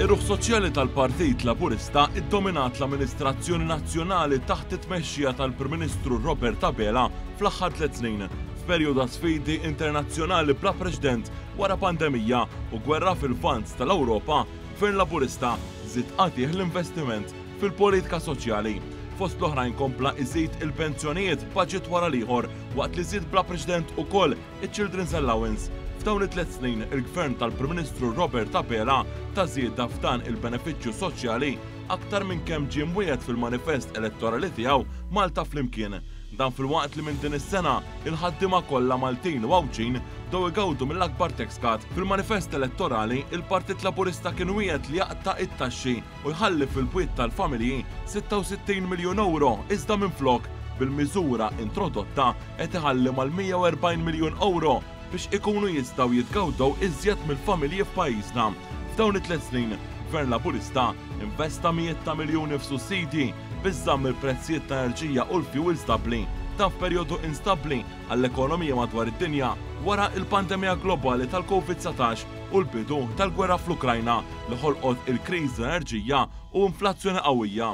Ir-ruħ soċjali tal-Partit Laburista ddominat l-amministrazzjoni nazzjonali taħt it-tmexxija tal-Prim Ministru Robert Abela fl-aħħar tliet snin, f'perjodu ta' sfidi internazzjonali bla preċdent wara pandemija u gwerra fil-Lvant tal-Ewropa, Gvern Laburista żied qatiegħ l-investiment fil-politika soċjali. Fost l-oħrajn kompla iżid il-pensjonijiet baġit wara l-ieħor waqt li żied bla preċdent ukoll Iċ-Children's Allowance, F'dawn it-tliet snin, il-Gvern tal-Prim Ministru Robert Abela ta żieda f'dan il-benefiċċju soċjali aktar minn kemm ġie mwiegħed fil-manifest elettorali tiegħu Malta Flimkien. Dan filwaqt li minn din is-sena, il-ħaddiema kollha Maltin u Għawdxin bdew igawdu mill-akbar tax cut. Fil-manifest elettorali, il-Partit Laburista kien wiegħed li jaqta' it-taxxi u jħalli fil-pwiet tal-familji 66 miljun ewro iżda minflok, bil-miżura introdotta, qed iħalli mal-140 miljun ewro biex ikunu jistgħu jitgawdew iżjed mill-familji f'pajjiżna. F'dawn it-tliet snin, Gvern Laburista investa mijiet ta' miljuni f'sussidji biex żamm il-prezzijiet ta' enerġija u l-fjuwil stabbli, dan f'perjodu instabbli għall-ekonomija madwar id-dinja wara l-pandemija globali tal-Covid 19 u l-bidu tal-gwerra fl-Ukrajna li ħolqot il-kriżi tal-enerġija u inflazzjoni qawwija.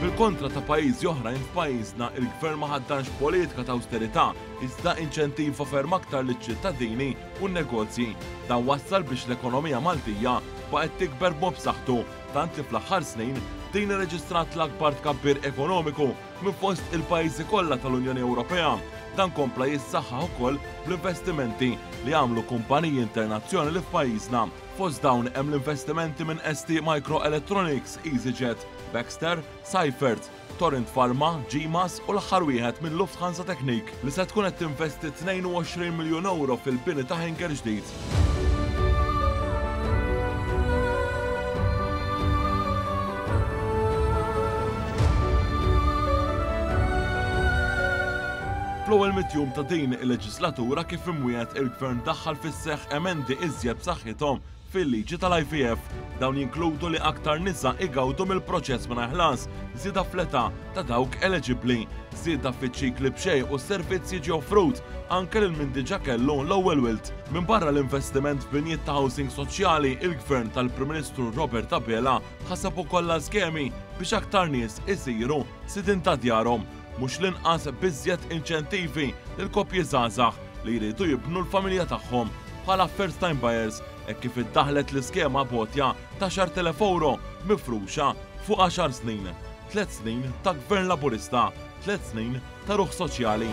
Bil-kontra ta' pajjiżi oħrajn, f'pajjiżna il-Gvern ma ħaddanx politika ta' awsterità iżda inċentiva ferm aktar liċ-ċittadini u n-negozji. Dan wassal biex l-ekonomija Maltija baqgħet tikber b'mod b'saħħtu tant li fl-aħħar snin din irreġistrat l-akbar tkabbir ekonomiku minn fost il-pajjiżi kollha tal-Unjoni Ewropea. Dan kompla jissaħħaħ ukoll bl-investimenti li għamlu kumpaniji internazzjonali f'pajjiżna. Fost dawn hemm l-investimenti minn ST Microelectronics, EasyJet, Baxter, Seifert, Torrent Pharma, GMAS u l-aħħar wieħed minn Lufthansa Technik li se tkun qed tinvesti 22 miljun ewro fil-bini ta' hangar ġdid. Fl-ewwel mitt jum ta' din il-leġislatura kif imwiegħed il-Gvern daħħal fis-seħħ emendi iżjed b'saħħithom Fil-liġi tal-IVF, dawn jinkludu li aktar nisa igawdu mill-proċess mingħajr ħlas, żieda fl-età ta' dawk eleġibbli, żieda fiċ-ċikli b'xejn u s-servizz jiġi offrut anke lil min diġà kellu l-ewwel wild. Minbarra l-investiment f'binjiet ta' housing soċjali, il-Gvern tal-Prim Ministru Robert Abela ħaseb ukoll għal skemi biex aktar nies isiru sidien ta' djarhom. Mhux l-inqas b'iżjed inċentivi lill-koppji żgħażagħ li jridu jibnu l-familja tagħhom bħala first time buyers hekk kif iddaħħlet l-iskema b'għotja ta' xahar telef ewro mifruxa fuq għaxar snin, tliet snin ta' Gvern Laburista, tliet snin ta' ruħ soċjali.